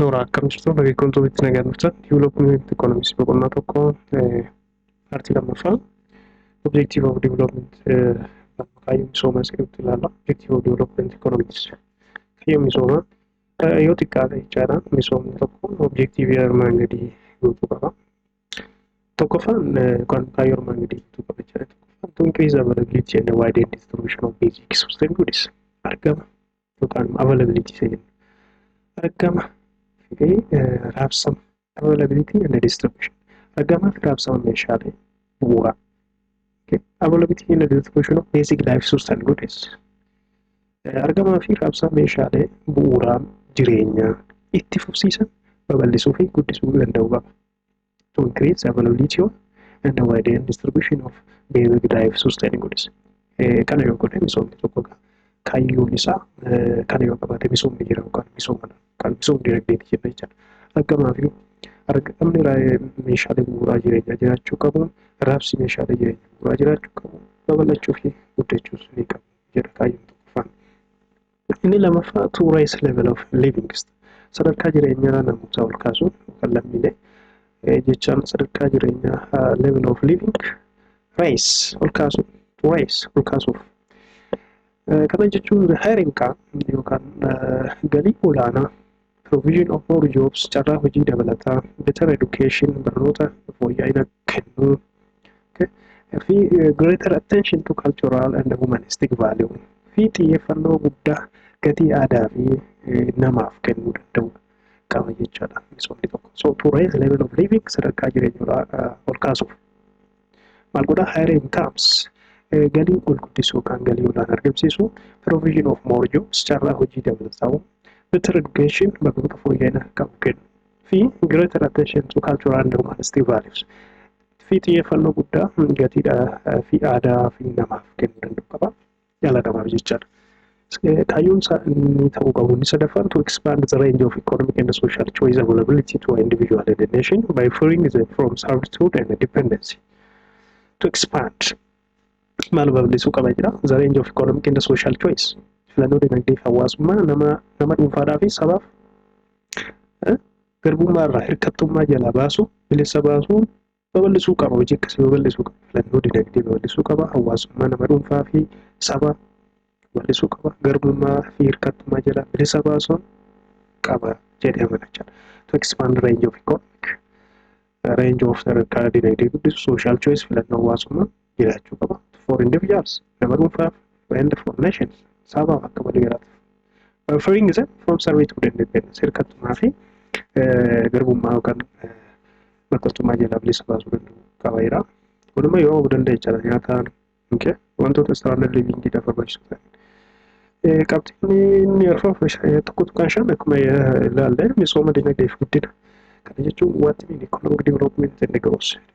Noora akkam jirtu dargaggoontuu bitti nagaa jirtan development economics boqonnaa tokko paartii lammaffaa objective of development kaayyoo misoomaa sirriitti ilaalla objective of development economics kaayyoo misoomaa yoo xiqqaate jechaadha misoomni tokko objektiivii armaan gadii guutuu qaba. Tokkoffaan kan kaayyoo armaan gadii guutuu qaba jechaadha. Tokkoffaan to increase availability and wide distribution of basic system goods argama tuqaanuma availability isa jennu argama fi raabsama availability and distribution argamaa fi raabsama meeshaalee bu'uuraa availability and distribution of basic life source and goods argamaa fi raabsama meeshaalee bu'uuraa jireenyaa itti fufsiisan babal'isuu fi guddisuu danda'uu qaba. to increase availability of and the wide and distribution of basic dive sustain goods. Kana yoo godhe misoomni tokko kaayyoon isaa kana yoo qabaate misoomni jira yookaan misoomadha. Kan misoomni dinagdeeti jenna jechuudha. Argamaa fi argamni meeshaalee bu'uuraa jireenyaa jiraachuu qabu, raabsi meeshaalee jireenyaa bu'uuraa jiraachuu qabu, babal'achuu fi guddachuus ni qabu jedha kaayyoon tokkoffaan. Inni lamaffaa to raise level of living sadarkaa jireenyaa namootaa ol kaasuun yookaan lammiilee jechaan sadarkaa jireenyaa level of living raise ol kaasuun to raise ol kaasuuf. Kana jechuun the higher income yookaan galii olaanaa Provision of more jobs carraa hojii dabalataa better education barnoota fooyya'ina kennuu okay. fi eh, greater attention to cultural and humanistic value fi xiyyeeffannoo guddaa gatii aadaa fi eh, namaaf kennuu danda'u qaba jechaadha misoomni tokko so to raise level of living sadarkaa jireenyaa ah, ol kaasuuf maal godha higher incomes galii ol guddisuu kan galii olaan argamsiisu provision of more jobs carraa hojii dabalataa'u better education barnoota fooyya'ina qabu kennu fi greater attention to cultural and humanistic values fi xiyyeeffannoo guddaa gatiidha fi aadaa fi namaaf kennuu danda'u qaba. dhala namaaf jechaadha. Kaayyoon isaa inni ta'uu qabu inni sadaffaan to expand the range of economic and social choice availability to individual and the nation by freeing them from servitude and dependency. To expand maal babal'isuu qaba jira the range of economic and social choice filannoo dinagdee fi hawaasummaa nama nama dhuunfaadhaa fi sabaaf garbummaa irraa hirkattummaa jalaa baasuu bilisa baasuun babal'isuu qaba hojii akkasii babal'isuu qaba filannoo dinagdee babal'isuu qaba hawaasummaa nama dhuunfaa fi saba babal'isuu qaba garbummaa fi hirkattummaa jala bilisa baasuun qaba jedhee amana jechuudha. To expand range of economic range of sadarkaa dinagdee guddisu social choice filannoo hawaasummaa jiraachuu qaba. For individuals, nama dhuunfaaf, and for nations, sabaaf akka waliigalaatiif. By freeing them from service to the independence, hirkattummaa fi garbummaa yookaan makkattummaa jalaa bilisa baasuu danda'u qaba jira. Kunimmoo yoo hubuu danda'e jechaadha nyaataan okay. wantoota standard living dha barbaachisu ta'an. Qabxiin inni arfan tokko tuqaan shan akkuma ilaalle misooma dinagdee fi guddina. Kana jechuun wanti inni economic development and growth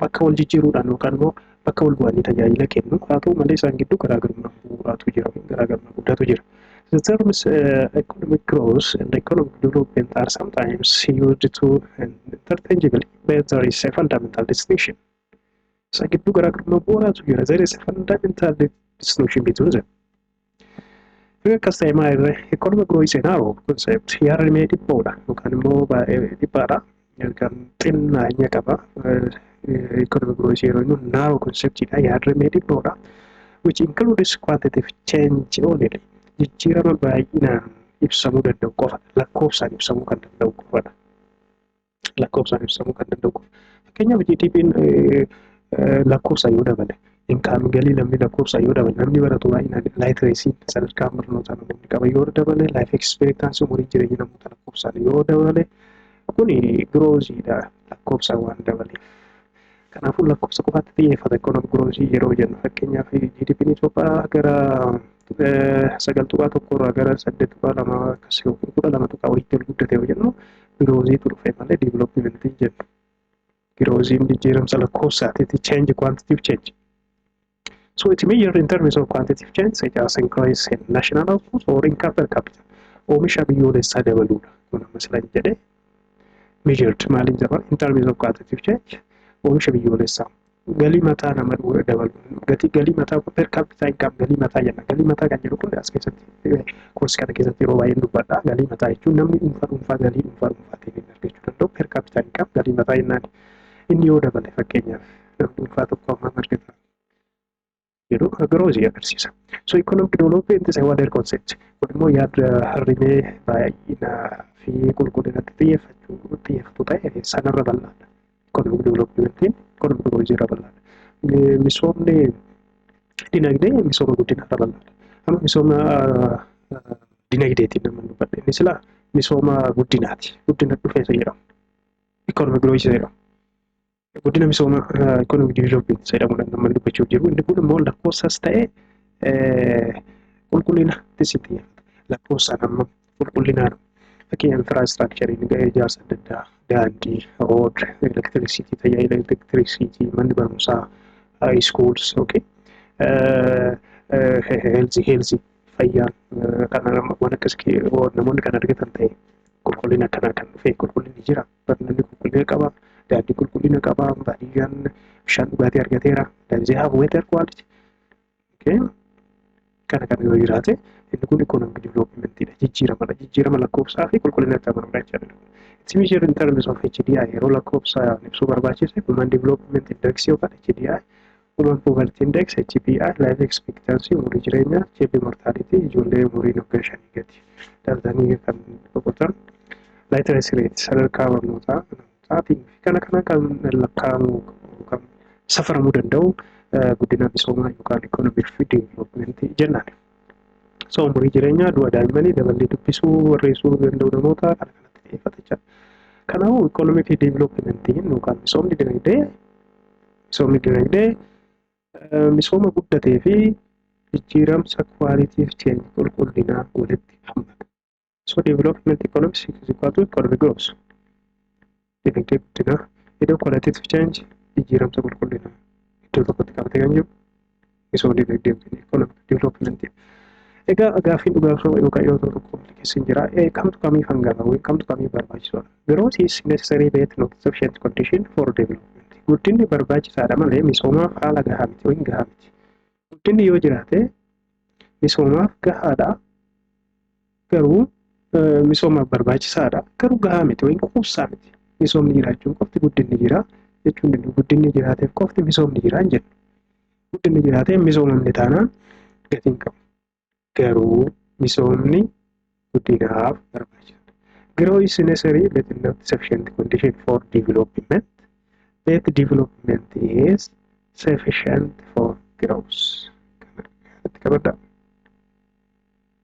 bakka wal jijjiiruudhaan yookaan immoo bakka wal bu'anii tajaajila kennu haa ta'u malee isaan gidduu garaagarummaa bu'uuraatu jira garaagarummaa guddaatu jira. The terms uh, economic growth and economic development are sometimes used to interchangeably, but there is a fundamental distinction. Isa gidduu garaagarummaa bu'uuraatu jira. There is a fundamental distinction between them. Yoo akkas ta'e maa irree economic growth is a narrow concept yaadni mee dhiphoodha yookaan immoo baay'ee dhiphaadha yookaan xinnaanya qaba economic growth yeroo immoo narrow conceptidha yaadni mee dhiphoodha which includes quantitative change only jijjiirama baay'inaan ibsamuu danda'u qofa lakkoofsaan ibsamuu kan danda'u qofadha. lakkoofsaan ibsamuu kan danda'u qofa. Fakkeenyaaf GDP'n lakkoofsaan yoo dabale inkaamii galii namni lakkoofsaan yoo dabale namni baratu baay'inaan laayitireesiin sadarkaa barnootaa namoonni qaban yoo dabale laayif ekspeektaansi umurii jireenya namoota lakkoofsaan yoo dabale kun girooziidha lakkoofsaan waan dabaleef. Kanaafuu lakkoofsa qofaatti xiyyeeffata ikoonomi giroozii yeroo jennu fakkeenyaaf GDP'n Itoophiyaa gara sagal tuqaa tokko irraa gara saddeet tuqaa lama akkas yookiin kudha lama tuqaa walitti ol guddate yoo jennu girooziitu dhufe malee diiviloopimentii jedhu. Girooziin jijjiiramsa lakkoofsaatiiti change quantitative change. So it measures in terms of quantitative change such as increase in national output or income per capita. Oomisha biyyoolessaa dabaluudha. Kun amma silan jedhee measured maaliin jedhama in terms of quantitative change oomisha biyyoolessaa galii mataa nama dhuga dabalu gatii galii mataa kun per capita income galii mataa jenna galii mataa kan jedhu kun as keessatti koorsii kana keessatti yeroo baay'een dubbadha galii mataa jechuun namni dhuunfaa dhuunfaa galii dhuunfaa dhuunfaa ta'e argachuu danda'u per capita income galii mataa jennaan inni yoo dabale fakkeenyaaf namni dhuunfaa tokko amma argata jedhu kan biroo isin agarsiisa. So economic development is a wider concept. Kun immoo yaada harrimee baay'ina fi qulqullinatti xiyyeeffachuu xiyyeeffatu ta'e sanarra bal'aadha. Economic developmentiin economic growth irra bal'aadha. Misoomni dinagdee misooma guddinaa irra bal'aadha. Amma misooma dinagdeetiin nama dubbadhe inni silaa misooma guddinaati. Guddina dhufeessa jedhamu. Economic growth jedhamu. guddina misooma economic development isa jedhamudha namni dubbachuuf jiru. Inni kun immoo lakkoofsas ta'e qulqullina tisitii lakkoofsaan amma qulqullinaan fakkeenya infiraastraakchariin ijaarsa adda addaa daandii, rood, elektirisiitii, tajaajila elektirisiitii, manni barumsaa, iskuuls, okay. heelzi heelzi fayyaan kan waan akkas namoonni kan argatan ta'e qulqullina akkanaa kan dhufe qulqullinni jira. barnoonni qulqullina qaba daandii qulqullina qaba baadiyyaan bishaan dhugaatii argateera danzee haaf weetar kwaaliti kana kan yoo jiraate inni kun ikoonoomik diviloopimentii jijjiiramadha jijjiirama lakkoofsaa fi qulqullina itti amanudha jechuudha. It's measured in terms of HDI yeroo lakkoofsa ibsuu barbaachise human development index yookaan HDI Human Poverty Index, HPI, Life Expectancy, umurii jireenyaa, Child Mortality, ijoollee umuriin waggaa shanii gadi dhalatanii kan boqotan, Literacy Rate, sadarkaa barnootaa, amanamtaatiin fi kana kana kan lakkaa'amuu kan safaramuu danda'u guddina misoomaa yookaan economic fi development jennaan. So umurii jireenyaa, du'a daa'immanii, daballee dubbisuu, barreessuu danda'u namoota kana kanatti xiyyeeffata jechuudha. Kanaafuu economic development yookaan misoomni dinagdee Misoomni dinagdee misooma guddatee fi jijjiiramsa kwaaliitiif cheenji qulqullinaa walitti hammata. So development economics is equal to economic growth. Dinagdee guddinaa iddoo qualitative change jijjiiramsa qulqullinaa iddoo tokkotti qabatee kan jiru misooma dinagdee yookiin economic development. Egaa gaaffii dhugaa osoo yookaan yoo tokko komplikeessi hin jira. Kamtu kamii hangana yookiin kamtu kamii barbaachisuudha. Growth is necessary but not sufficient condition for development. Guddinni barbaachisaadha malee misoomaaf haala gahaa miti yookiin gahaa miti. Guddinni yoo jiraate misoomaaf gahaadha garuu misoomaaf barbaachisaadha. Garuu gahaa miti yookiin quubsaa miti. Misoomni jiraachuun qofti guddinni jira jechuun danda'u. Guddinni jiraateef qofti misoomni jira hin jennu. Guddinni jiraatee hin misoomamne taanaan gatiin qabu. Garuu misoomni guddinaaf barbaachisaadha. Grow is necessary but not sufficient condition for development. Yet development is sufficient for growth. Kana irratti qabadhaa.